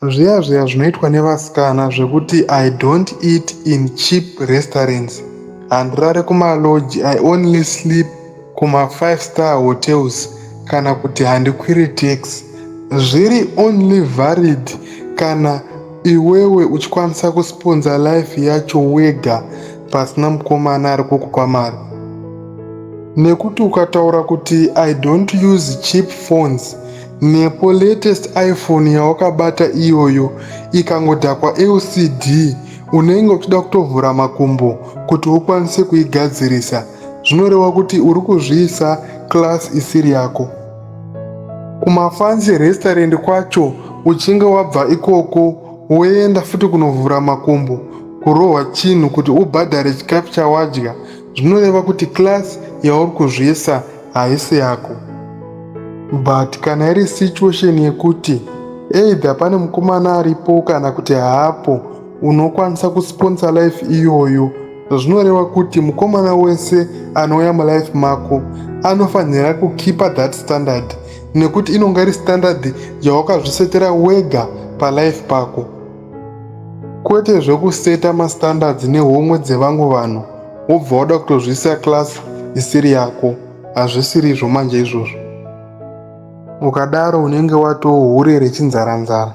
Zviya zviya zvinoitwa nevasikana zvekuti I don't eat in cheap restaurants, handirare kumalodge, I only sleep kuma five star hotels kana kuti handikwiri tax zviri only valid kana iwewe uchikwanisa kusponsor life yacho wega pasina mukomana ari kukupa mari nekuti ukataura kuti i don't use cheap phones Nepo latest iPhone yawakabata iyoyo ikangodhakwa LCD unenge uchida kutovhura makumbo kuti ukwanise kuigadzirisa zvinoreva kuti uri kuzviisa class isiri yako. Kumafancy restaurant kwacho uchinge wabva ikoko woenda futi kunovhura makumbo kurohwa chinhu kuti ubhadhare chikafu chawadya zvinoreva kuti class yauri kuzviisa haisi yako but kana iri situation yekuti either pane mukomana aripo kana kuti haapo unokwanisa kusponsor life iyoyo zvinoreva kuti mukomana wese anouya mulife mako anofanira kukipa that standard nekuti inonga iri standard yawakazvisetera wega palife pako Kwete zvekuseta mastandards nehomwe dzevamwe vanhu wobva wada kutozviisa class isiri yako. Hazvisirizvo manje izvozvo. Ukadaro unenge watoo hure rechinzaranzara.